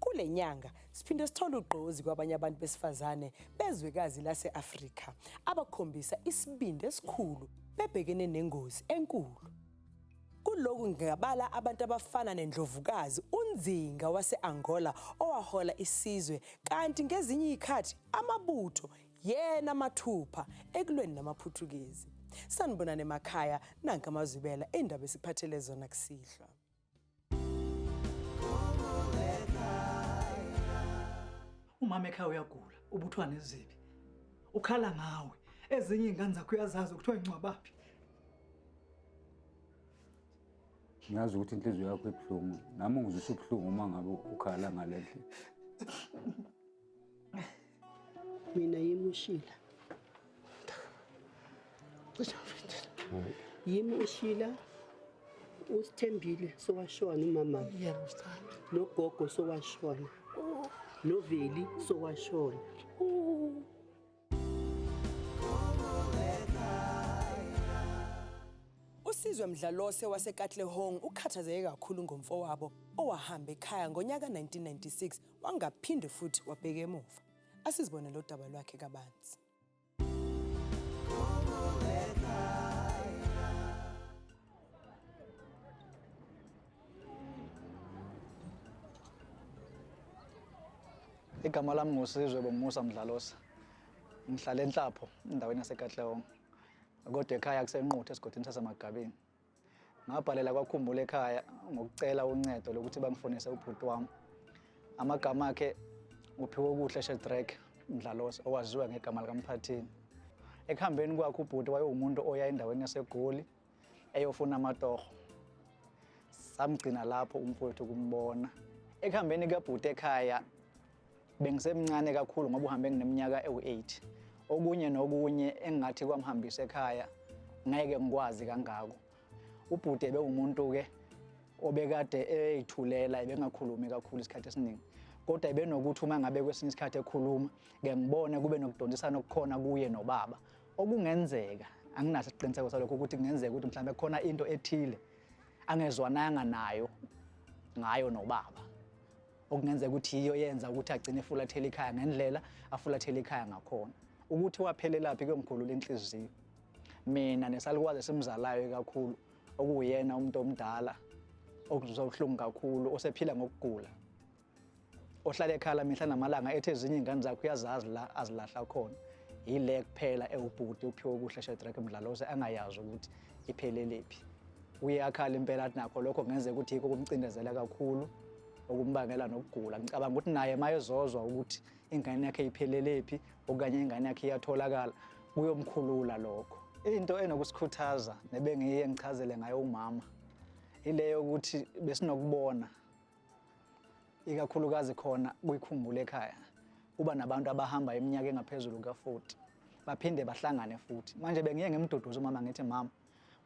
Kule nyanga siphinde sithole ugqozi kwabanye abantu besifazane bezwekazi lase-Afrika abakhombisa isibindi esikhulu bebhekene nengozi enkulu. Kuloku ngingabala abantu abafana nendlovukazi uNzinga wase-Angola owahola isizwe kanti ngezinye izikhathi amabutho yena mathupha ekulweni namaPhuthukezi. Sanibonani emakhaya nanka amazwibela indaba esiphathele zona kusihlwa. umama ekhaya uyagula ubuthwa nezibi ukhala ngawe ezinye iy'ngane zakho uyazazi ukuthiwa ingcwabaphi ngazi ukuthi inhliziyo yakho ibuhlungu nami ngizwisa ubuhlungu uma ngabe ukhala ngale ndlela mina yimi ushila cisha mfethu yimi ushila usithembile sowashona umama yebo sithanda nogogo sowashona noveli sowashona Usizwe Mdlalose waseKatlehong ukhathazeke kakhulu ngomfowabo owahamba ekhaya ngonyaka 1996 Wangaphinde futhi wabheka emuva. Asizibone lo daba lwakhe kabanzi. Igama lami nguSizwe Bomusa Mdlalosa. Ngihlala eNhlapho, endaweni yaseKatlehong. Kodwa ekhaya kusenquthu esigodini saseMagabini. Ngabhalela kwakhumbula ekhaya ngokucela uncedo lokuthi bangifonise ubhuti wami. Amagama akhe uphiwe okuhle Shedrack Mdlalos owaziwa ngegama likaMphathini. Ekuhambeni kwakhe ubhuti wayewumuntu oya endaweni yaseGoli eyofuna amatoho. Samgcina lapho umfowethu kumbona. Ekuhambeni kabhuti ekhaya Bengisemncane kakhulu ngoba uhambe ngineminyaka ewu-8. Okunye nokunye engingathi kwamhambisa ekhaya ngeke ngikwazi kangako. Ubhuti ebewumuntu-ke obekade eyithulela ebengakhulumi kakhulu isikhathi esiningi kodwa ebenokuthi uma ngabe kwesinye isikhathi ekhuluma ke ngibone kube nokudonsisana okukhona kuye nobaba okungenzeka anginaso isiqiniseko salokho ukuthi kungenzeka ukuthi mhlawumbe khona into ethile angezwananga nayo ngayo nobaba okungenzeka ukuthi yiyo yenza ukuthi agcine efulathela ikhaya ngendlela afulathela ikhaya ngakhona ukuthi waphelelaphi kuyomkhulula inhliziyo mina nesalukazi esimzalayo kakhulu okuyena umuntu omdala okuzwa ubuhlungu kakhulu osephila ngokugula ohlala ekhala mihla namalanga ethi ezinye iy'ngane zakho uyazazi la azilahla khona yile kuphela ewubhuti uphiwe kuhle shedrack mdlalose angayazi ukuthi ipheleliphi uye akhala impela athi nakho lokho kungenzeka ukuthi yikho kumcindezela kakhulu okumbangela nokugula ngicabanga ukuthi naye mayezozwa ukuthi ingane yakhe iphelelepi okanye ingane yakhe iyatholakala kuyomkhulula lokho into enokusikhuthaza nebengiye ngichazele ngayo umama ileyo ukuthi besinokubona ikakhulukazi khona kuyikhumbule ekhaya kuba nabantu abahamba iminyaka engaphezulu ka-40 baphinde bahlangane futhi manje bengiye ngimduduza umama ngithi mama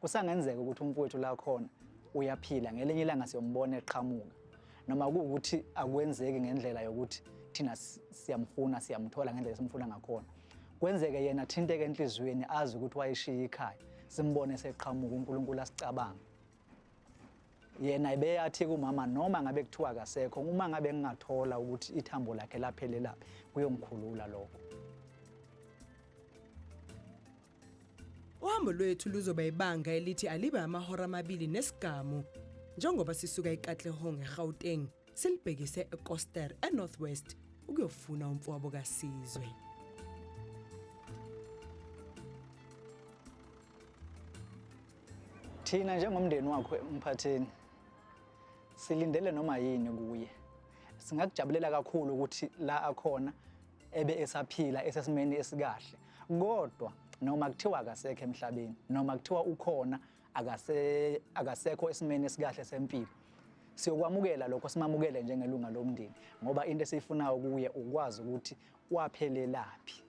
Kusangenzeka ukuthi umfowethu la khona uyaphila ngelinye ilanga siyombona eqhamuka noma kuwukuthi akwenzeki ngendlela yokuthi thina siyamfuna siyamthola ngendlela esimfuna ngakhona kwenzeke yena thinteke enhliziyweni azi ukuthi wayeshiya ikhaya simbone seqhamuka uNkulunkulu asicabanga yena ibeyathi kumama noma ngabe kuthiwa akasekho uma ngabe ngingathola ukuthi ithambo lakhe laphelelaphi kuyongikhulula lokho Uhambo lwethu luzoba ibanga elithi alibe amahora amabili nesigamu njengoba sisuka eKatlehong eGauteng silibhekise eKoster eNorthwest ukuyofuna umfowabo kaSizwe. Thina njengomndeni wakho umphatheni silindele noma yini kuye. Singakujabulela kakhulu ukuthi la akhona ebe esaphila esesimeni esikahle kodwa noma kuthiwa akasekho emhlabeni noma kuthiwa ukhona akase akasekho esimeni esikahle sempilo siyokwamukela lokho simamukele njengelunga lomndeni ngoba into esiyifunayo kuye ukwazi ukuthi waphelelaphi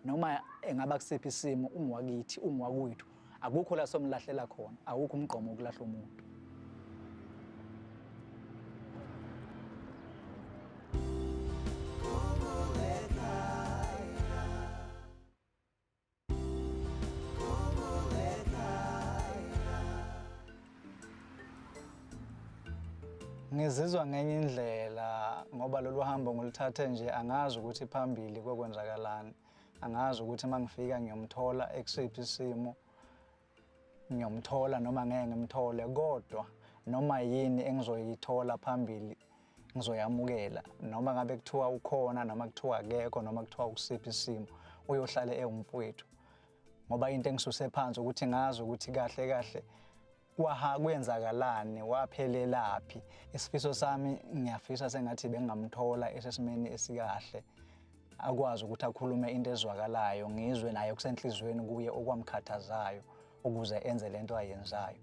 noma engaba kusiphi isimo ungiwakithi ungiwakwethu Akukho la somlahlela khona, awukho umgqomo wokulahla umuntu. Ngizizwa ngenye indlela ngoba lolu hambo ngiluthathe nje angazi ukuthi phambili kokwenzakalani. angazi ukuthi uma ngifika ngiyomthola ekusiphi isimo ngiyomthola noma ngeke ngimthole kodwa noma yini engizoyithola phambili ngizoyamukela noma ngabe kuthiwa ukhona noma kuthiwa akekho noma kuthiwa ukusiphi isimo uyohlale ewumfowethu ngoba into engisuse phansi ukuthi ngazi ukuthi kahle kahle Kwaha kwenzakalani waphelelaphi isifiso sami ngiyafisa sengathi bengamthola esesimeni esikahle akwazi ukuthi akhulume into ezwakalayo ngizwe naye kusenhlizweni kuye okwamkhathazayo ukuze enze lento ayenzayo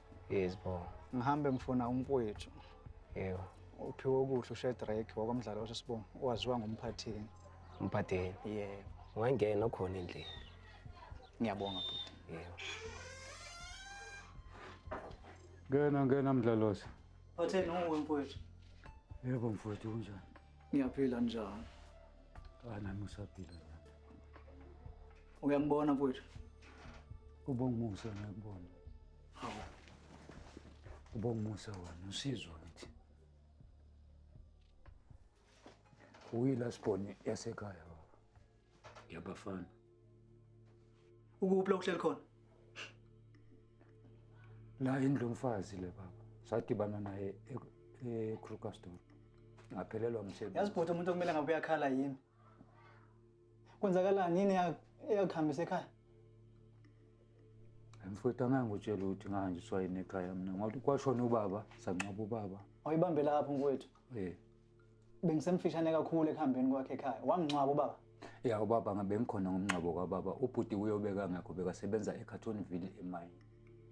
Yes bo. Ngihambe mfuna umfowethu. Yebo. Uphiwe ukudla uShedrack wakwamdlalo osesibongo waziwa ngomphathini. Umphathini? Yebo. Ungangena okhona endlini. Ngiyabonga bhuti. Yebo. Ngena ngena mdlalosi. Phatheni uwe mfowethu. Yebo mfowethu kunjani? Ngiyaphila njani? Ana musaphila. Uyangibona mfowethu? Ubongumusa ngiyakubona. Hawu. Ubongumusa wena usizwa kithi. Uyila siboni yasekhaya baba. Yabafana. Ukuphi la uhleli khona? La indlu mfazi le baba. Sadibana naye e-Krugersdorp. Ngaphelelwa umsebenzi. Yazi bhuti umuntu okumele ngabe uyakhala yimi. Kwenzakalani yini eyakuhambisa ekhaya? Mfowethu angange utshele ukuthi ngahanjiswa yini ekhaya mina ngoba kwashona ubaba sangcwaba ubaba. Awuyibambe lapho mfowethu. Eh. Bengisemfishane kakhulu ekuhambeni kwakhe ekhaya. Wamngcwaba ubaba. Ya ubaba ngabe ngikhona ngomngcwabo kababa. Ubhuti uyobeka ngakho bekasebenza eCartonville emayini.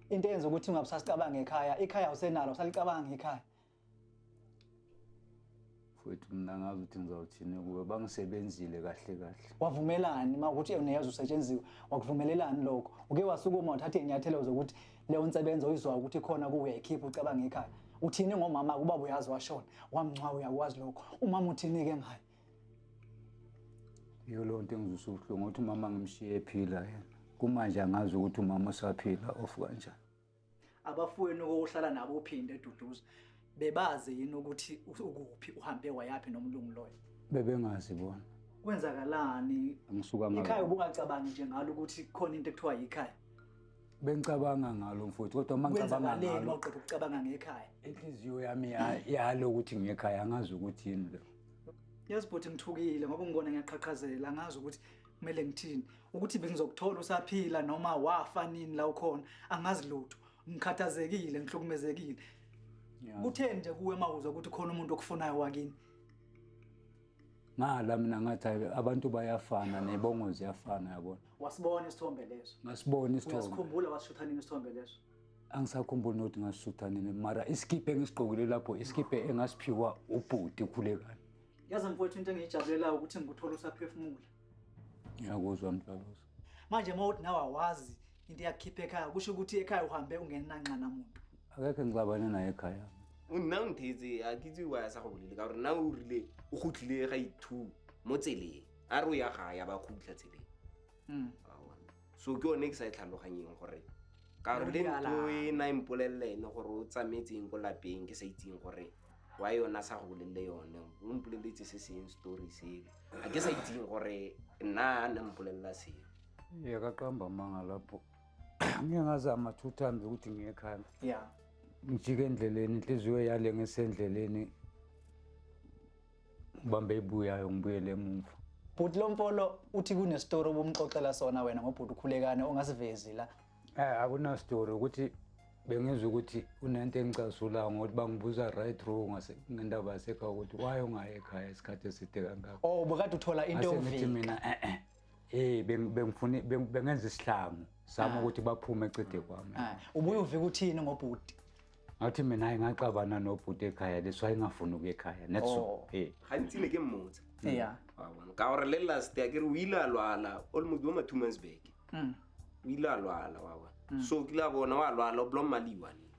Into eyenza ukuthi ungabusasicabangi ekhaya, ikhaya usenalo usalicabanga ikhaya. futhi mina ngazi ukuthi ngizawuthini kuwe bangisebenzile kahle kahle wavumelani uma ukuthi uneyazi usetshenziwe wakuvumelelani lokho uke wasukuma wathatha inyathelo zokuthi leyo nsebenzo uyizwa ukuthi khona kuwe uyayikhipha ucabanga ekhaya uthini ngomama kuba uyazi washona wamncwawa uyakwazi lokho umama uthini ke ngayo iyo leyo nto engizwisa ubuhlungu ukuthi umama ngimshiye ephila yena kumanje angazi ukuthi umama usaphila ofu kanjani abafowenu kokuhlala nabo uphinde eduduza bebazi yini ukuthi ukuphi uhambe wayaphi nomlungu loyo bebengazi bona kwenzakalani ngisuka ngalo ikhaya ubungacabangi nje ngalo ukuthi khona into ekuthiwa yikhaya bengicabanga ngalo mfowethu kodwa uma ngicabanga ngalo maqeda ukucabanga ngekhaya inhliziyo yami yalo ukuthi ngekhaya angazi ukuthi yini lo yes bhuti ngithukile ngoba ngibona ngiyaqhaqhazela angazi ukuthi kumele ngithini ukuthi bengizokuthola usaphila noma wafa nini la ukhona angazi lutho ngikhathazekile ngihlukumezekile kutheni nje kuwe mawuzwa ukuthi khona umuntu okufunayo wakini ngala mina ngathi abantu bayafana nebongo ziyafana yabona wasibona isithombe leso ngasibona isithombe uyasikhumbula wasishutha nini isithombe leso angisakhumbuli nokuthi ngasishutha nini mara isikiphe engisigqokile lapho isikiphe engasiphiwa ubhuti ukhulekani Yazi mfowethu into engiyijabulelayo ukuthi ngikuthola usaphefumula. Ngiyakuzwa mdlalosi. Manje uma uthi nawe awazi into eyakukhipha ekhaya kusho ukuthi ekhaya uhambe ungenanxana muntu. Akekho engixabane naye ekhaya. Nna o nthetse a ke itse wa ya sa go bolele ka gore nna o rile o gotlile ga ithu mo tseleng a re o ya ga ya ba khutlha tseleng. Mm. Awa. so ke one ke sa e tlhaloganyeng gore karole nto e na e mpolelele ene gore o tsamaetseng ko lapeng ke sa itseng gore wa yona sa go bolelele yone o mpoleletse se seng story sele a ke sa itseng gore nna a ne mpolelela seo yakaqamba manga lapho ngiye ngazama two times ukuthi ngiye ekhaya ya ngijike endleleni inhliziyo yale ngisendleleni ngibambe ibuyayo ngibuyele emuva bhuti lompolo uthi kunestori obumxoxela sona wena ngobhuti ukhulekane ongasivezi la eh akunastori ukuthi bengizwa ukuthi unento engicasulayo ngokuthi bangibuza right wrong ngendaba yasekhaya ukuthi why ungayi ekhaya isikhathi eside kangako oh bukade uthola into ngithi mina e-e eh, eh. hey bengifuna bengenza isihlangu sami ah. ukuthi baphume ecede kwami ah. ubuye uvika uthini ngobhuti ngathi mina hayi ngaxabana nobhuti ekhaya leso ayingafuni ukuya ekhaya netso oh. hey hayi ngithile ke mmotsa hmm. yeah wabona ka ore le last ya ke re o ile a lwala o le motho wa mathumansbeke hmm. o ile a lwala wabona hmm. so o kile a bona wa lwala o blom maliwa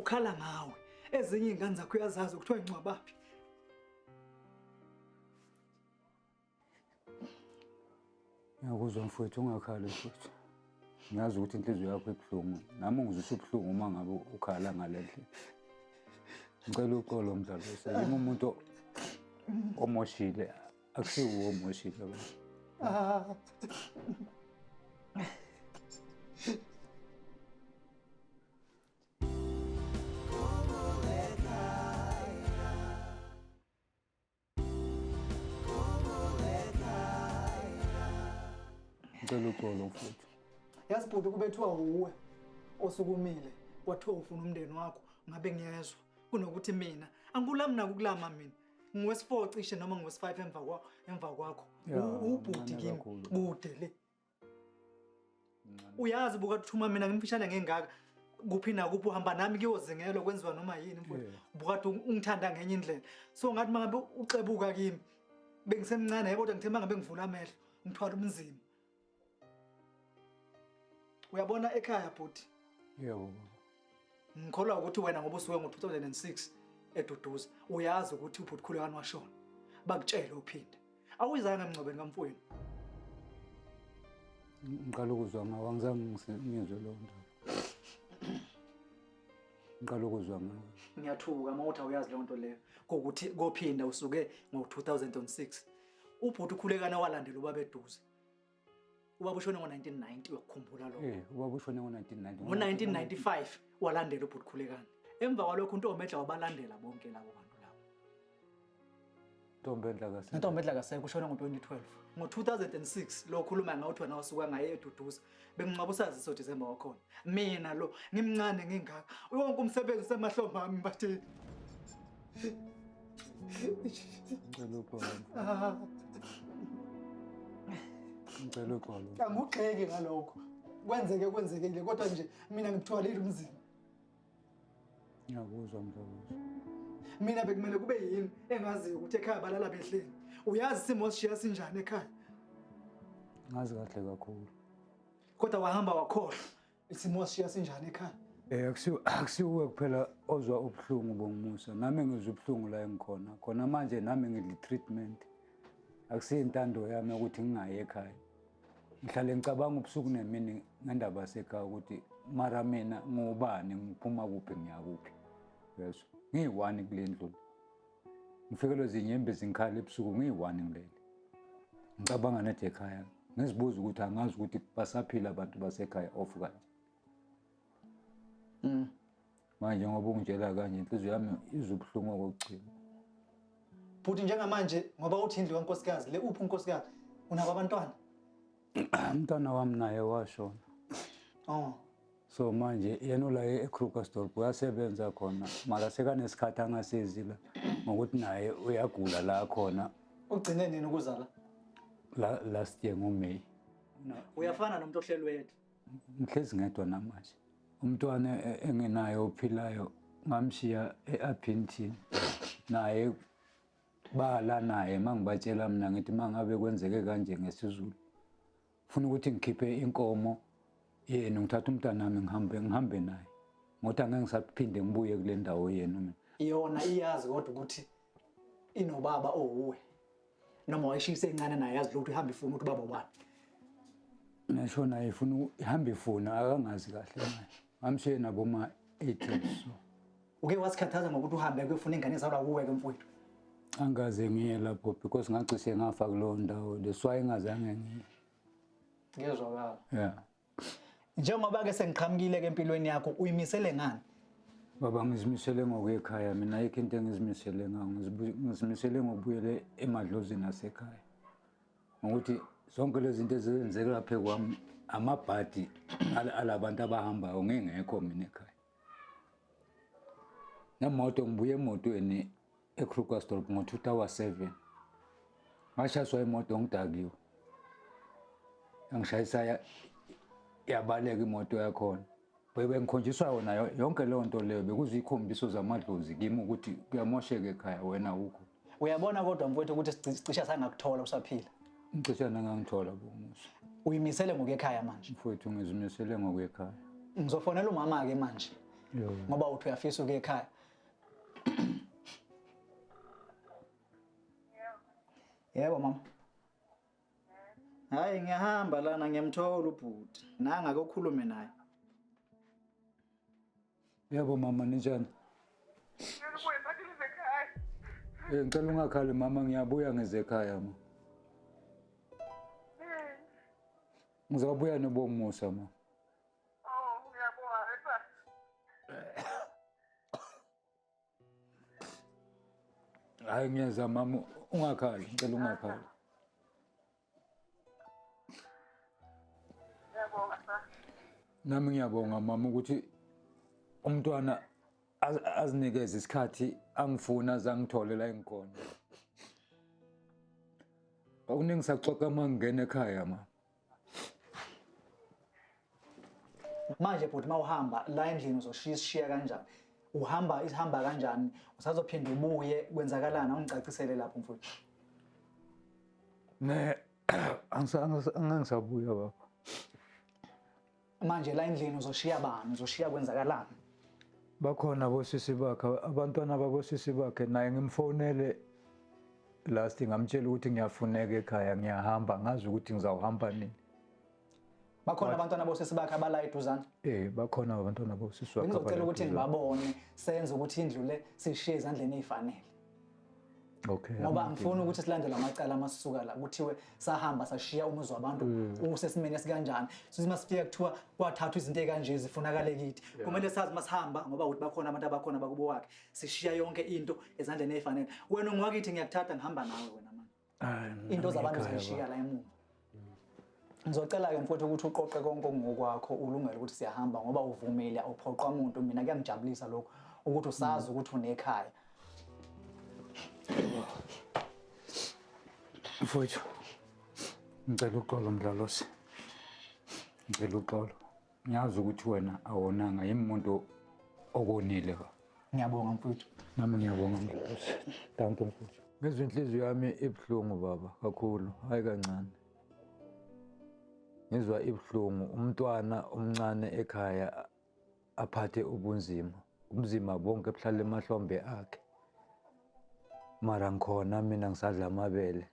ukhala ngawe ezinye iy'ngane zakho uyazazi kuthiwa ingcwabaphi ngiyakuzwa mfowethu ungakhali mfowethu ngiyazi ukuthi inhliziyo yakho ibuhlungu nami ungizwisa ubuhlungu uma ngabe ukhala ngale ndlela ngicela uxolo mdlalo yimi umuntu omoshile akusiwo omoshile ngicela uxolo mfowethu yazi bhuti kubethiwa wuwe osukumile kwathiwa ufuna umndeni wakho ngabe ngiyezwa kunokuthi mina angikulami nakukulama mina ngiwesi-four cishe noma ngiwesi-five emva kwakho emva kwakho ubhuti kimi kude le uyazi buka thuma mina ngimfishane ngengaka kuphi nakuphi uhamba nami kuyozingelwa kwenziwa noma yini mfowethu Yeah. bukade ungithanda ngenye indlela so ngathi mangabe uxebuka kimi bengisemncane yebo kodwa ngithe mangabe ngivula amehlo ngithwala umzima uyabona ekhaya bhuti yebo baba Ngikholwa ukuthi wena ngoba usuke ngo-2006 eduduza uyazi ukuthi ubhuti Khulekani washona. Bakutshele uphinde. Awuyizanga emngcwabeni kamfowenu. Ngiqala ukuzwa ngawo angizange ngise- ngizwe leyo ndaba. Ngiqala ukuzwa ngawo. Ngiyathuka uma uthi awuyazi leyo nto leyo kokuthi kophinda usuke ngo-2006 ubhuti ukhulekana walandela ubaba eduze ubaba ushone ngo-1990 uyakukhumbula lokho Eh, ubaba ushone ngo-1990. ngo-1995 walandela ubhuti khulekani emva kwalokho untombedla wabalandela bonke labo bantu labo Ntombi endla kahle. intombedla kaseke ushone ngo-2012 ngo-2006 lo khuluma ngawo kuthiwa nawe suka ngaye eduduza bemngcwaba usaziso disemba wakhona Mina lo ngimncane ngingaka. Wonke umsebenzi usemahlombe ami mbathe. Ngicela ukwala. Ngicela ukwala. Angugxeki ngalokho. Kwenzeke kwenzekile kodwa nje mina ngikuthwalile umzimba. Ngiyakuzwa mfowethu. Mina bekumele kube yini engaziyo ukuthi ekhaya balala behleli. Uyazi isimo sishiya sinjani ekhaya? Ngazi kahle kakhulu. Kodwa wahamba wakhohlwa isimo siya sinjani ekhaya. Eh akusiwe akusiwe kuphela ozwa ubuhlungu bongimusa. Nami ngizwa ubuhlungu la engikhona. Khona manje nami ngidli treatment. Akusiyintando yami ukuthi ngingayi ekhaya. Ngihlale ngicabanga ubusuku nemini ngendaba sekhaya ukuthi mara mina ngubani ngiphuma kuphi ngiyakuphi. Yezwa. Ngiyi-one kule ndlu. Ngifikelwe zinyembe zinkhala ebusuku ngiyi-one ngilele. Ngicabanga nathi ekhaya ngizibuza ukuthi angazi ukuthi basaphila abantu basekhaya off kanje. Mm. Manje ngoba ungitshela kanje inhliziyo yami izwa ubuhlungu okugcina. Bhuti njengamanje ngoba uthi indlu kankosikazi le uphi unkosikazi unabo abantwana? umntana wami naye washona oh. so manje yena ula ekrugersdorp uyasebenza khona mara sekanesikhathi angasizi la ngokuthi naye uyagula la khona ugcine nini ukuzala la last year ngomay uyafana nomuntu ohlelwethu ngihlezi ngedwa namanje umntwana e-, engenayo ophilayo ngamshiya e-aphinthini naye Bala naye mangibatshela mina ngithi mangabe kwenzeke kanje ngesizulu funa ukuthi ngikhiphe inkomo yenu ngithatha umntanami ngihambe ngihambe naye ngothi angeke ngisaphinde ngibuye kule ndawo yenu mina yona iyazi kodwa ukuthi inobaba owuwe noma wayishisa encane naye yazi lokhu ihamba ifuna ukuthi baba ubani ngisho naye ifuna ihamba ifuna akangazi kahle manje Ngamshiye naboma 80 so. Uke wasikhathaza ngokuthi uhambe kuyofuna ingane zalwa kuwe ke mfowethu. Angaze ngiye lapho because ngacishe ngafa kuleyo ndawo. That's why ngazange ngiye. Ngiyezwakala. Yeah. Njengoba ke sengiqhamukile ke empilweni yakho uyimisele ngani? Baba ngizimisele ngokwekhaya mina ayikho into engizimisele ngayo ngizimisele ngokubuyele emadlozini asekhaya. ngokuthi zonke lezi zinto ezenzeka laphe kwami amabhadi alabantu abahambayo ngingekho mina ekhaya nemoto ngibuye emotweni ekrugersdorp ngo-two tower seven ngashayiswa imoto ngidakiwe engishayisa yabaleka imoto yakhona bengikhonjiswa yona yonke leyo nto leyo bekuziyikhombisiso zamadlozi kimi ukuthi kuyamosheka ekhaya wena ukho uyabona kodwa mfowethu ukuthi sicisha sangakuthola usaphila ngicisha nangangithola bomusa uyimisele ngokuyekhaya manje mfowethu ngizimisele ngokuyekhaya ngizofonela umama-ke manje ngoba uthi uyafisa ukuya ekhaya yebo mama Hayi ngiyahamba lana ngiyamthola ubhuti. Nanga kokhulume naye. Yebo mama ninjani? Ngibuye phathi ekhaya. Eh ngicela ungakhali mama ngiyabuya ngeze ekhaya ma. Ngizobuya nobomusa ma. Oh, ngiyabonga. Hayi ngiyeza mama ungakhali ngicela ungakhali. Ngiyabonga sa. Nami ngiyabonga mama ukuthi umntwana azinikeze isikhathi angifuna azangithole la engikhona. Akuningi saxoxa uma ngingena ekhaya ma. manje bhuti uma uhamba la endlini uzoshiya isishiya kanjani uhamba isihamba kanjani usazophinde ubuye kwenzakalani awungicacisele lapho mfowethu ne angisabuya baba manje la endlini uzoshiya bani uzoshiya kwenzakalani bakhona bosisi bakhe abantwana bakosisi bakhe naye ngimfonele last ngamtshela ukuthi ngiyafuneka ekhaya ngiyahamba ngazi ukuthi ngizawuhamba nini bakhona abantwana bosisi bakhe abala eduzane eh bakhona abantwana bosisi wakhe ngizocela ukuthi ngibabone senze ukuthi indlu le sishiye ezandleni ezifanele Okay, ngoba angifuni ukuthi silandele amacala amasuka la kuthiwe sahamba sashiya umuzi wabantu mm. usesimeni esikanjani sithi masifika kuthiwa kwathathwa izinto ekanje zifunakale kithi kumele sazi masihamba ngoba ukuthi bakhona abantu abakhona bakubo wakhe sishiya yonke into ezandleni ezifanele wena ungwakithi ngiyakuthatha ngihamba nawe wena manje into zabantu zayishiya la emuva ngizocela-ke mfowethu ukuthi uqoqe konke okungokwakho ulungele ukuthi siyahamba ngoba uvumile awuphoqwa muntu mina kuyangijabulisa lokho ukuthi usazi mm. ukuthi unekhaya mfowethu ngicela uxolo mdlalosi ngicela uxolo ngiyazi ukuthi wena awonanga yimi muntu okonile ngiyabonga mfuthu nami ngiyabonga mfuthu thank you mfuthu ngizwe inhliziyo yami ibuhlungu baba kakhulu hayi kancane ngizwa ibuhlungu umntwana omncane ekhaya aphathe ubunzima ubunzima bonke buhlala emahlombe akhe mara ngikhona mina ngisadla amabele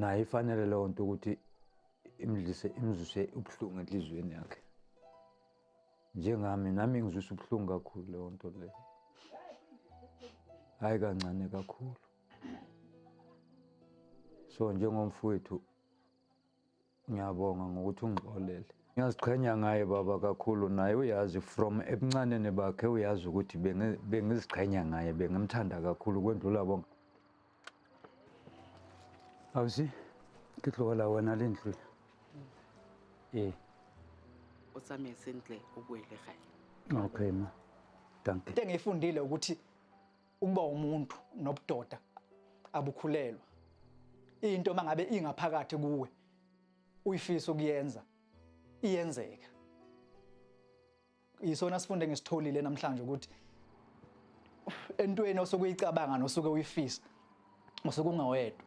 naye ifanele leyo nto ukuthi imdlise imzuse ubuhlungu enhliziyweni yakhe njengami nami ngizwisa ubuhlungu kakhulu leyo nto leyo hhayi kancane kakhulu so njengomfowethu Ngiyabonga ngokuthi ungixolele. Ngiyaziqhenya ngaye baba kakhulu naye uyazi from ebuncaneni bakhe uyazi ukuthi bengiziqhenya ngaye bengimthanda kakhulu kwendlula bonke. Awusi ke tlogela wena le ntlo. Ee. O tsamaye sentle o boele gae. Okay ma. Dankie. Into engiyifundile ukuthi Ukuba umuntu nobudoda abukhulelwa. Into mangabe ingaphakathi kuwe uyifisa ukuyenza iyenzeka. Yisona sifunde ngisitholile namhlanje ukuthi entweni osuke uyicabanga nosuke uyifisa usuke ungawedwa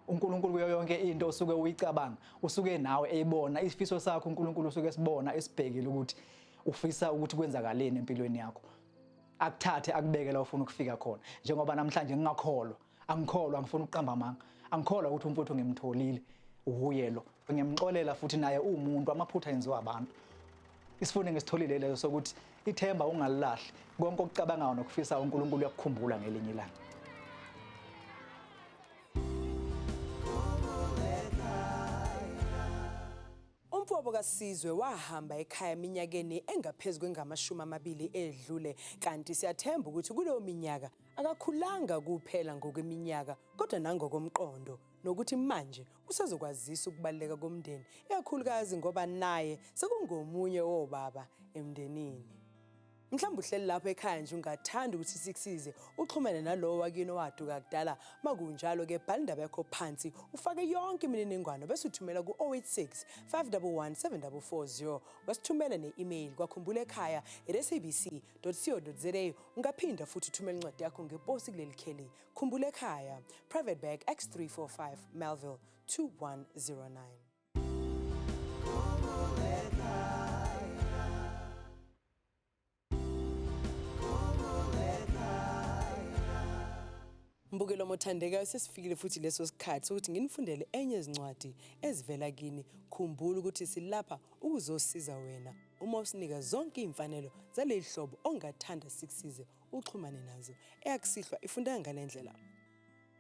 uNkulunkulu kuyo yonke into osuke uyicabanga usuke nawe eyibona isifiso sakho uNkulunkulu usuke esibona esibhekile ukuthi ufisa ukuthi kwenzakaleni empilweni yakho akuthathe akubeke la ufuna ukufika khona njengoba namhlanje ngingakholwa angikholwa angifuni ukuqamba amanga angikholwa ukuthi umfuthu ngimtholile uhuye lo ngiyamxolela futhi naye uwumuntu amaphutha enziwa abantu isifundo ngisitholile leso sokuthi ithemba ungalilahli konke okucabangayo nokufisa uNkulunkulu uyakukhumbula ngelinye ilanga Umfowabo kaSizwe wahamba ekhaya eminyakeni engaphezu kwengamashumi amabili edlule kanti siyathemba ukuthi kuleyo minyaka akakhulanga kuphela ngokweminyaka kodwa nangokomqondo nokuthi manje usezokwazisa ukubaluleka komndeni ikakhulukazi ngoba naye sekungomunye wobaba emndenini. mhlawumbe uhleli lapho ekhaya nje ungathanda ukuthi sikusize uxhumene nalowo wakini owaduka kudala makunjalo ke bhala indaba yakho phansi ufake yonke imininingwano bese uthumela ku-086 511 7440 wasithumela ne-email kwakhumbula ekhaya sabc co za ungaphinda futhi uthumela incwadi yakho ngeposi kuleli kheli khumbula ekhaya private bag x 345 melville 2109 Mbukelo mothandeka sesifikile futhi leso sikhathi ukuthi nginifundele enye izincwadi ezivela kini. Khumbula ukuthi silapha ukuzosiza wena uma usinika zonke iy'mfanelo zaleli hlobo ongathanda sikusize uxhumane nazo. Eyakusihlwa ifundeka ngale ndlela.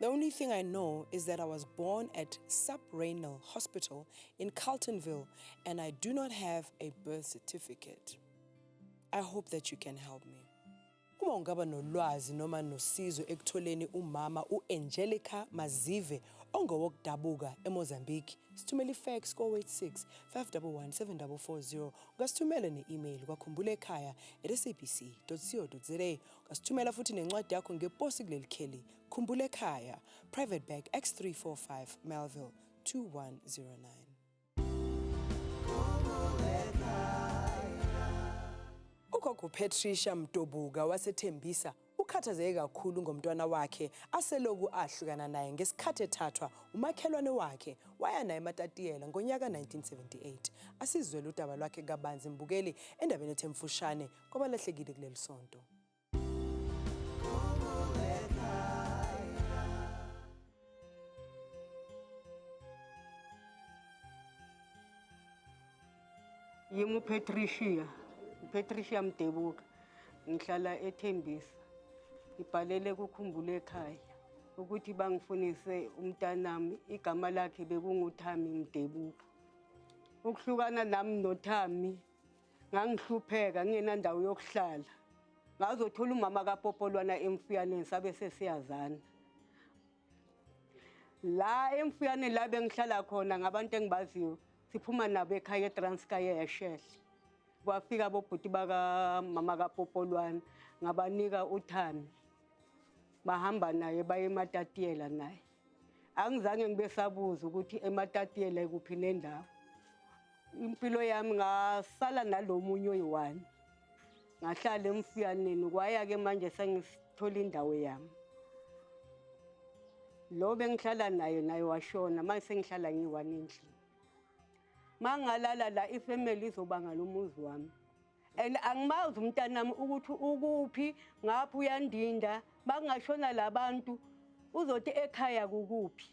The only thing I know is that I was born at Subrenal Hospital in Carltonville and I do not have a birth certificate. I hope that you can help me. Uma ungaba nolwazi noma nosizo ekutholeni umama u-Angelica Mazive ongowokudabuka eMozambique, sithumele ifax ko-86 511 7440 ungasithumela ne-email kwakhumbula ekhaya at sabc co za ungasithumela futhi nencwadi yakho ngeposi kuleli kheli Khumbula ekhaya, Private Bag X345 Melville 2109. Ugogo Patricia Mtobuka wasethembisa ukhathazeke kakhulu ngomntwana wakhe aseloku ahlukana naye ngesikhathi ethathwa umakhelwane wakhe waya naye eMatatiyela ngonyaka 1978 asizwele udaba lwakhe kabanzi mbukeli endabeni ethe mfushane kwabalahlekile kuleli sonto Patricia, Patricia Mdebuka ngihlala eThembisa ngibhalele kukhumbule ekhaya ukuthi bangifunise umntanami igama lakhe bekunguThami Mdebuka ukuhlukana nami noThami Ngangihlupheka ngingenandawo yokuhlala. Ngazothola umama kaPopolwana emfuyaneni sabe sesiyazana. La emfuyaneni la bengihlala khona ngabantu engibaziyo siphuma nabo ekhaya eTranskaya eShehle. Kwafika bobhuti bakamama kaPopolwana ngabanika uThami. Bahamba naye baye eMatatiyela naye. angizange ngibe sabuza ukuthi ematatiela ikuphi nendawo impilo yami ngasala nalomunye oyi-one ngahlala emfuyaneni kwaya-ke manje sengithola indawo yami lo bengihlala naye naye washona manje sengihlala ngiyi-one endlini mangalala la ifamily izobanga lomuzi wami and angimazi umntanami ukuthi ukuphi ngapha uyandinda makungashona labantu uzothi ekhaya kukuphi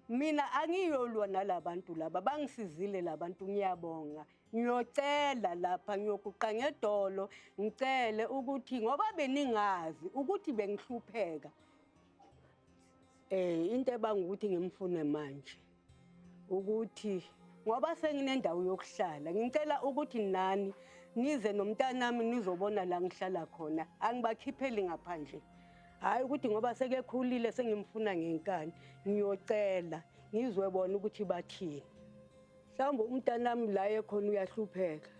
mina angiyolwa nalabantu laba bangisizile labantu ngiyabonga ngiyocela lapha ngiyokuqa ngedolo ngicele ukuthi ngoba beningazi ukuthi bengihlupheka eh into ebanga ukuthi ngimfune manje ukuthi ngoba senginendawo yokuhlala ngicela ukuthi nani nize nomntanami nizobona la ngihlala khona angibakhipheli ngaphandle hhayi ukuthi ngoba sekekhulile sengimfuna ngenkani ngiyocela ngizwe bona ukuthi bathini mhlawumbe umntanami la ekhona uyahlupheka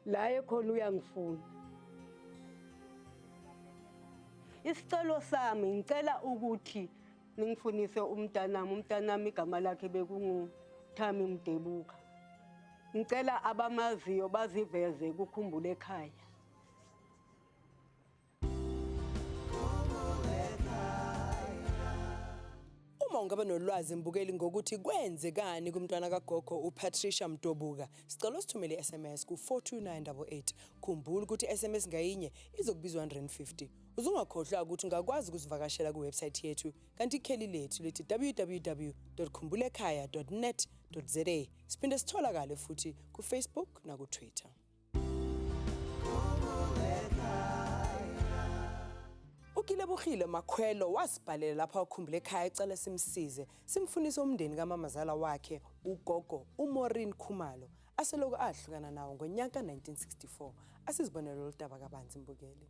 la ekhona uyangifuna isicelo sami ngicela ukuthi ningifunise umntanami umntanami igama lakhe bekunguthami mdebuka ngicela abamaziyo baziveze kukhumbule ekhaya uma ungaba nolwazi mbukeli ngokuthi kwenzekani kumntwana kagogo upatricia mdobuka sicela usithumele i-sms ku-42988 khumbula ukuthi i-sms ngayinye izokubizwa 150 Uzungakhohlwa ukuthi ungakwazi ukusivakashela kuwebsite yethu kanti ikheli lethu lithi www.khumbulekhaya.net.za. Siphinde sitholakale futhi kuFacebook nakuTwitter. Ukilebugile Makhwelo wasibhalela lapha ukhumbule ekhaya ecela simsize simfunise umndeni kamamazala wakhe ugogo uMorin Khumalo aseloku ahlukana nawo ngonyaka 1964 asizibonele lolu daba kabanzi mbukeli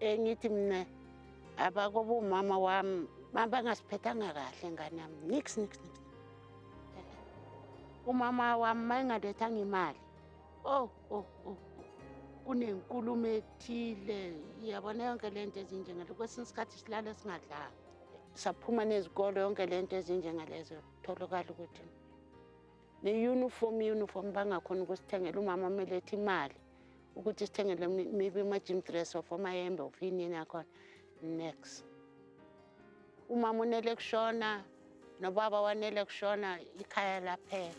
engithi mina abakoba umama wami bangasiphathanga kahle ngane yami nix nix nix umama wami mayengalethanga imali oh oh oh kunenkulumo ethile iyabona yonke le nto ezinjengalo kwesinye isikhathi silale singadlanga saphuma nezikolo yonke le nto ezinjengalezo tholakala ukuthi ne-uniform uniform bangakhona ukusithengela umama amele ethi imali ukuthi sithengele maybe ama-gym dress of amayembe of yinini akhona next umama unele kushona nobaba wanele kushona ikhaya laphela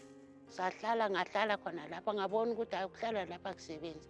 sahlala ngahlala khona lapha ngabona ukuthi hayi ukuhlala lapha kusebenzi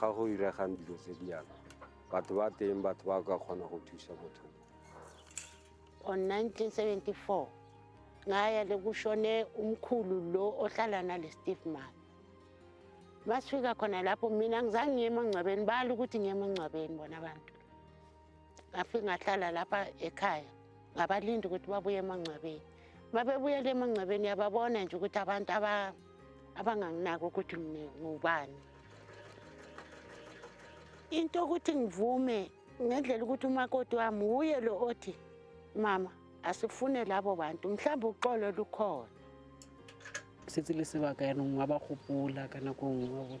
ga go iregang dilo tse di yana batho ba teng batho ba ka kgona go thusa motho on 1974 ngaya lekushone umkhulu lo ohlala nale steve man masifika khona lapho mina ngizange ngiye emangcwabeni bala ukuthi ngiye emangcwabeni bona abantu ngafike ngahlala lapha ekhaya ngabalindi ukuthi babuye emangcwabeni uma bebuyela emangcwabeni yababona nje ukuthi abantu abanganginaki ukuthi ngubani into yokuthi ngivume ngendlela ukuthi umakoti wami wuye lo othi mama asifune labo bantu mhlawumbe uxolo lukhona setse le sebaka yanong wa ba gopola ka nako nngwe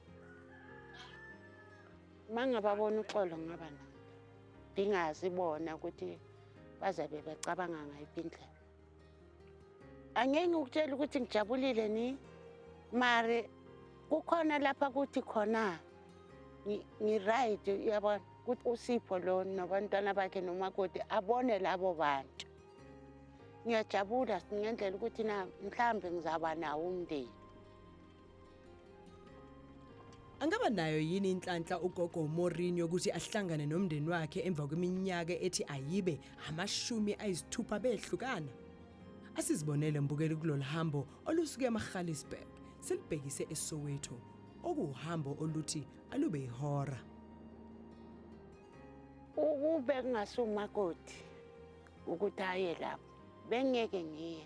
uma ngababona uxolo ngaba nabo ndingazi bona ukuthi bazabe becabanga ngayiphi indlela angeke ngikutshela ukuthi ngijabulile ni mari kukhona lapha kuthi khona ngi-right uyabona ukuthi usipho lo nabantwana bakhe nomakoti abone labo bantu ngiyajabula ngendlela ukuthi na mhlawumbe ngizaba nawo umndeni Angaba nayo yini inhlanhla ugogo Mourinho ukuthi ahlangane nomndeni wakhe emva kweminyaka ethi ayibe amashumi ayisithupha behlukana? Asizibonele mbukeli kulolu hambo olusuke eMagaliesburg silibhekise eSoweto okuwuhambo oluthi alube ihora. Ukube kungasumakoti ukuthi aye lapho bengeke ngiye.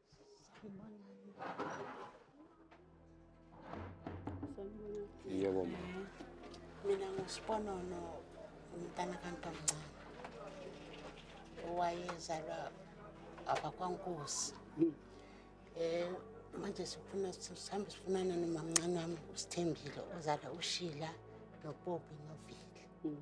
Yebo ma. Mina nguSiponono umntana kantomncane owayezalwa abakwankosi. Hmm. Eh manje sifuna sihambe sifunana nomamncane wami uSithembile ozala uShila noPopi noVile. Hmm.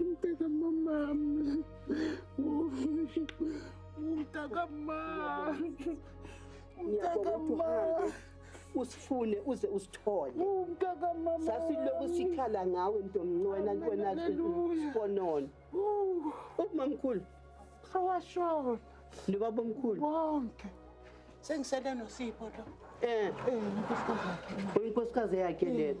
Umtaka mama. Umtaka mama. Umtaka mama. usifune uze usithole sasilokhu sikhala ngawe ntomnci wena wena sifonona ubumamkhulu sawashona nobaba omkhulu bonke sengisele nosipho lo um uyinkosikazi yakhe lena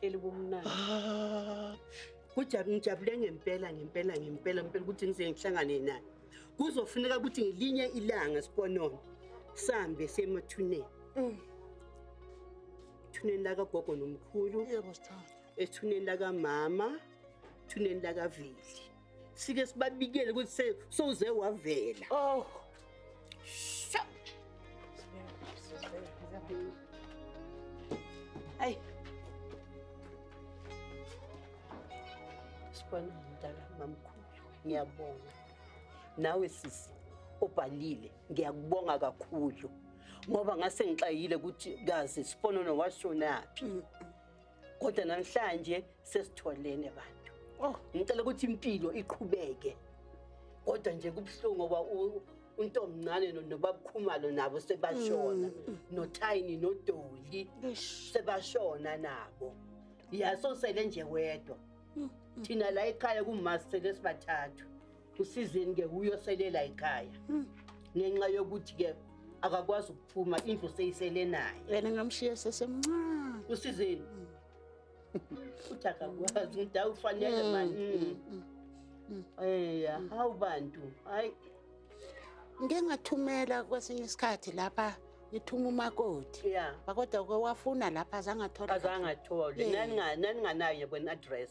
elibumnandi ah. kujab ngijabule ngempela ngempela ngempela ngempela ukuthi ngize ngihlangane naye kuzofuneka ukuthi ngelinye ilanga siponono sambe semathuneni mm. ethuneni lakagogo nomkhulu yebo sithanda ethuneni lakamama ethuneni lakavili sike sibabikele ukuthi se- sowuze wavela Oh. Sho. Ay. Sibona mdala mamkhulu. Ngiyabonga. Nawe sisi obhalile ngiyakubonga kakhulu ngoba ngase ngixayile ukuthi kazi siponono washonaphi. kodwa namhlanje sesitholene bantu oh. ngicela ukuthi impilo iqhubeke kodwa nje kubuhlungu ngoba untomncane nobabukhumalo nabo sebashona mm, mm. nothayini nodoli sebashona nabo yasosele nje wedwa mm, thina la ekhaya kumasele sibathathu usizini ke uyoselela ekhaya hmm. ngenxa yokuthi ke akakwazi ukuphuma indlu seyisele naye yena ngamshiya sesemncane usizini hmm. uthi akakwazi umuntu awufanele hmm. mani eya hawu bantu hayi ngike ngathumela kwesinye isikhathi lapha ngithuma umakoti yeah. kodwa ke wafuna lapha azangathola azangatholi naninganayo kwen-address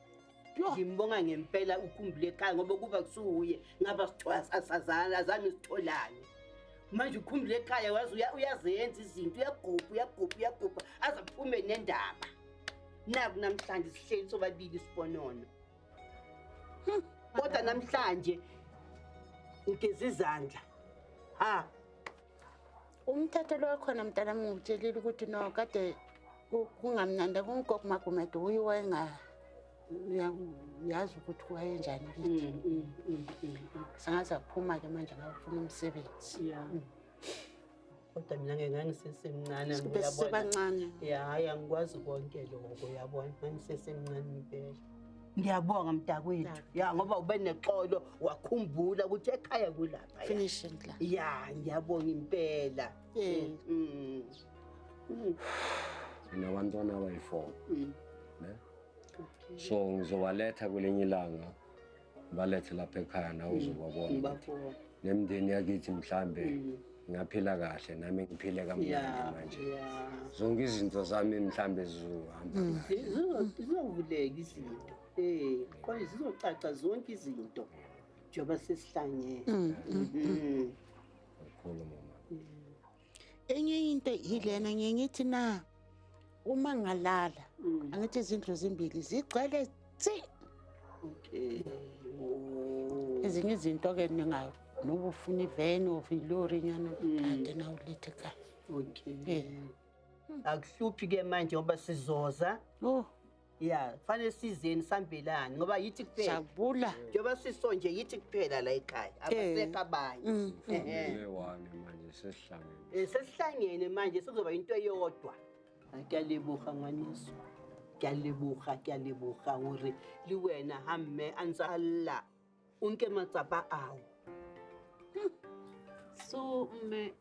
ngimbonga ngempela ukhumbule ekhaya ngoba kuba kusuwuye ngaba sasazana azange sitholane manje ukhumbule ekhaya wazi uyazenza izinto uyagubha uyagubha uyagubha aze aphume nendaba naku namhlanje sihleli sobabili isibonono hmm. kodwa namhlanje ngigeza izandla ha umthetho lo khona mntana ngikutshelile ukuthi no kade kungamnandi kungoku magumede uye wayenga uyazi ukuthi wayenjani kithi mm, mm, mm, sangaze aphuma-ke manje ngafuna umsebenzi kodwa mina ngeke ngangisesemncane sibesebancane ya hayi angikwazi konke lokho yabona ngangisesemncane impela Ngiyabonga mntakwethu. Ya ngoba ube nexolo wakhumbula ukuthi ekhaya kulapha. Finish la. Ya ngiyabonga impela. Eh. Mm. mm. Mina bantwana abayi-4. Mm. Ne? So ngizowaletha kwelinye ilanga. balethe lapha ekhaya nawe mm. uzobabona nemndeni yakithi mhlambe mm. ngaphila kahle nami ngiphile kamnandi manje zonke izinto zami mhlambe zizohamba mm. zizovuleka izinto um kwaye zizocaca zonke izinto njengoba sesihlangene kakhulu mama enye into yilena ngiye ngithi na uma ngalala mm. angithi izindlu zimbili zigcwele tsi okay ezinye izinto ke ningayo noba ufuna iveni of ilori nyana mm. kade nawulethe ka okay eh. akuhluphi ke manje ngoba sizoza oh ya fanele sizeni sambelani ngoba yithi kuphela jabula njengoba siso nje yithi kuphela la ekhaya abasekho abanye Mm. Ehe. Ngile wami manje sesihlangene. Eh, sesihlangene manje sekuzoba into eyodwa Ah, kuyalebuha ngwaneso kuyalebuha kuyalebuha uri liwena hamme anzalla o nke matsapa ao Hm. so mme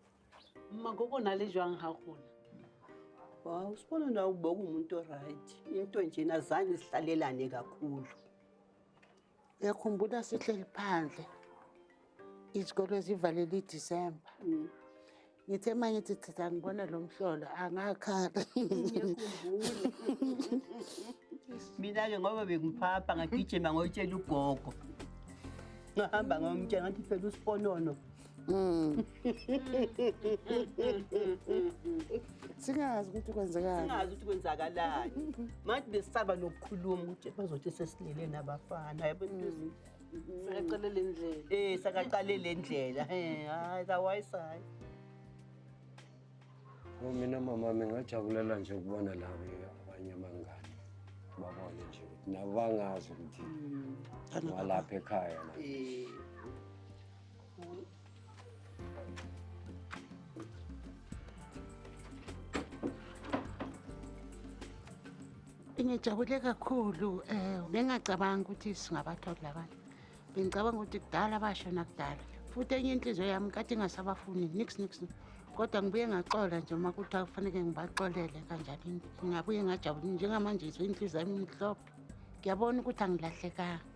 mmakoko na le jwang ga gola wa usibona na ukuba ungumuntu oright into njena zange sihlalelane kakhulu ngiyakhumbula sihleli phandle izikolo zivalele idisemba ngithe uma ngithi chitha ngibone lo mhlolo angakhala mina-ke ngoba bengiphapha ngagijima ngoyitshela ugogo ngahamba ngomtshela ngathi phela usiponono mm. singazi ukuthi kwenzekanisingazi ukuthi kwenzakalani manje besisaba nokukhuluma ukuthi bazothi sesilele nabafana yabona mm. Sakaqale le ndlela. Eh sakaqale le ndlela. Eh hayi otherwise hayi. Oh, mina mama ngingajabulela nje ukubona labo abanye abangani babone nje ukuthi nabo bangazi ukuthi walapha ekhaya la. Eh. ngijabule kakhulu um eh, bengacabangi ukuthi singabatholi labanye bengicabanga ukuthi kudala basho nakudala futhi enye inhliziyo yami kade ingasabafuni nix nix kodwa ngibuye ngaxola nje uma kuthiwa kufaneke ngibaxolele kanjani ngingabuye ngajabuli njengamanje izwe inhliziyo yami imhlophe ngiyabona ukuthi angilahlekanga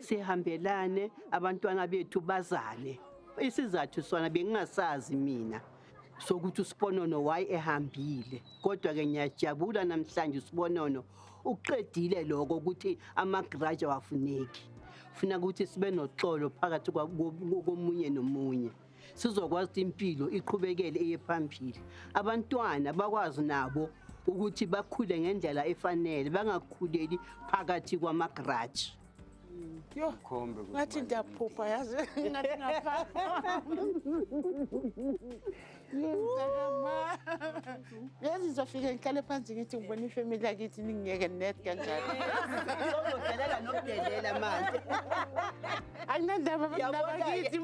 sihambelane abantwana bethu bazale isizathu sona bengingasazi mina sokuthi usiponono waye ehambile kodwa ke ngiyajabula namhlanje usibonono uqedile lokho ukuthi amagraja wafuneki funa ukuthi sibe noxolo phakathi komunye nomunye sizokwazi ukuthi impilo iqhubekele eye phambili abantwana bakwazi nabo ukuthi bakhule ngendlela efanele bangakhuleli phakathi kwamagaraji yho ngathi ndiyaphupha yazi ngathi ngaphaa Yazi zofike ngihlale phansi ngithi ngibona ifamily yakithi ningiyeke net kanjalo. Uzodelela nokudelela manje. Anginandaba bakithi.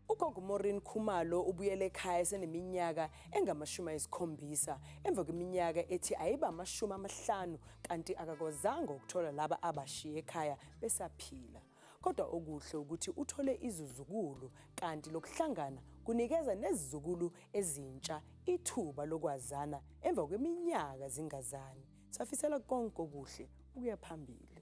Ugogo Morin Khumalo ubuyele ekhaya eseneminyaka engamashumi ayisikhombisa emva kweminyaka ethi ayiba amashumi amahlanu kanti akakwazanga ukuthola laba abashiye ekhaya besaphila. Kodwa okuhle ukuthi uthole izizukulu kanti lokuhlangana kunikeza nezizukulu ezintsha ithuba lokwazana emva kweminyaka zingazani. Safisela konke okuhle ukuya phambili.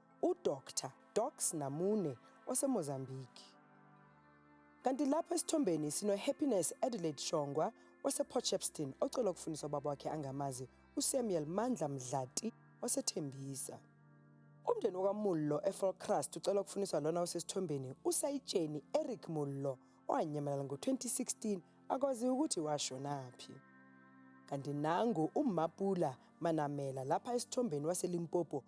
uDr Dox Namune oseMozambique. Kanti lapha esithombeni sinoHappiness Adelaide Shongwa wasePort Shepstone ocelwa ukufundisa ubaba wakhe angamazi uSamuel Mandla Mdlati osethembisa. Umndeni wakaMullo eFolkrust ucelwa ukufundisa lona osesithombeni usayitsheni Eric Mullo owanyamalala ngo-2016 akwazi ukuthi washonaphi. Kanti nangu uMapula Manamela lapha esithombeni waseLimpopo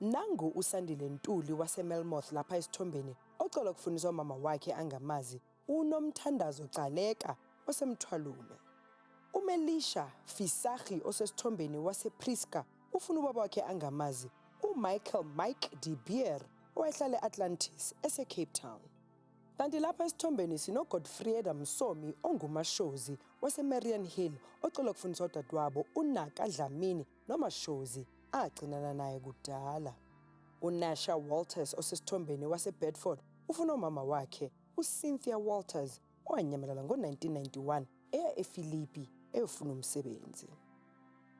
Nangu uSandile Ntuli waseMelmoth lapha esithombeni ocola ukufundiswa umama wakhe angamazi uNomthandazo Gcaleka oseMthwalume. UMelisha Fisahi osesithombeni wasePrisca ufuna ubaba wakhe angamazi uMichael Mike De Beer owayehlala e-Atlantis eseCape Town. Kanti lapha esithombeni sinoGodfrieda Msomi ongumashozi waseMarian Hill ocola ukufundiswa udadewabo uNaka Dlamini noMashozi agcinana naye kudala. UNasha Walters osesithombeni waseBedford ufuna umama wakhe uCynthia Walters owanyamalala ngo-1991 eya eFilipi eyofuna umsebenzi.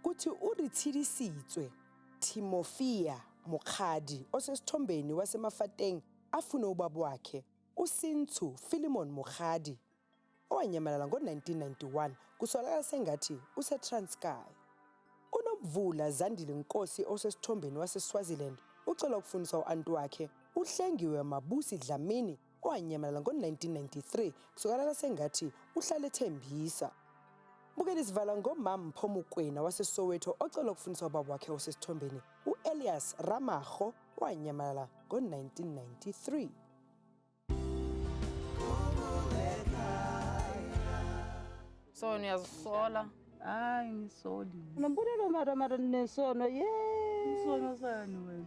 Kuthi uRithilisitswe Timofia Mokgadi osesithombeni wasemaFateng afune ubaba wakhe uSintsu Philemon Mokgadi owanyamalala ngo-1991 kusolakala sengathi useTranskei. UNomvula Zandile Nkosi osesithombeni waseSwaziland ucela ukufundisa u-anti wakhe uHlengiwe Mabusi Dlamini owanyamalala ngo-1993 kusolakala sengathi uhlale ethembisa. Bukela isivala ngomama Mpho Mokwena waseSoweto ocela ukufundisa ubaba wakhe osesithombeni u-Elias Ramago owanyamalala ngo-1993. So niyazisola? Hayi ngisoli. Unombulelo mara mara nesono ye. Isono sani wena?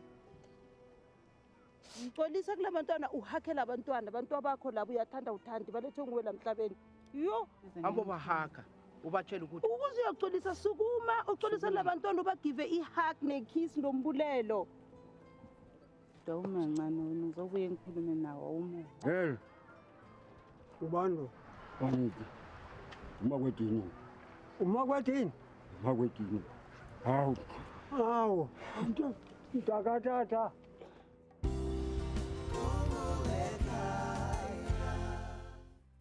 Ngixolisa kula bantwana uhakela abantwana abantu abakho labo uyathanda uthandi balethe nguwe la mhlabeni. Yo, Hambo bahaka ubatshela ukuthi ukuze uyoxolisa sukuma uxolisa labantwana ubagive i-hug ne-kiss nombulelo. Kodwa umancane wena ngizobuye ngikhulume nawo uma. Hey. Ubando. Bangiki. Uma kwedini. Uma kwedini. Uma kwedini. Hawu. Hawu. Mtakatata.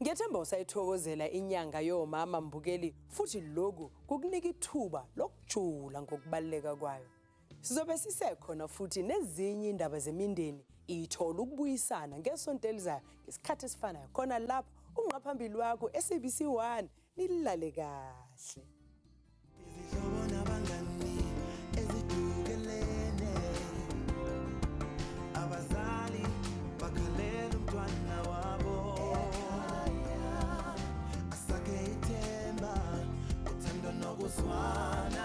Ngethemba usayithokozela inyanga yomama Mbukeli futhi lokhu kukunika ithuba lokujula ngokubaluleka kwayo. Sizobe sisekhona futhi nezinye indaba zemindeni ithola ukubuyisana ngesonto elizayo ngesikhathi esifanayo khona lapha ungqaphambili wakho SABC 1 nilale kahle. Izihlobo nabangani ezidukelene abazali bakhalela umntwana wabo asakhe ithemba uthando nokuzwana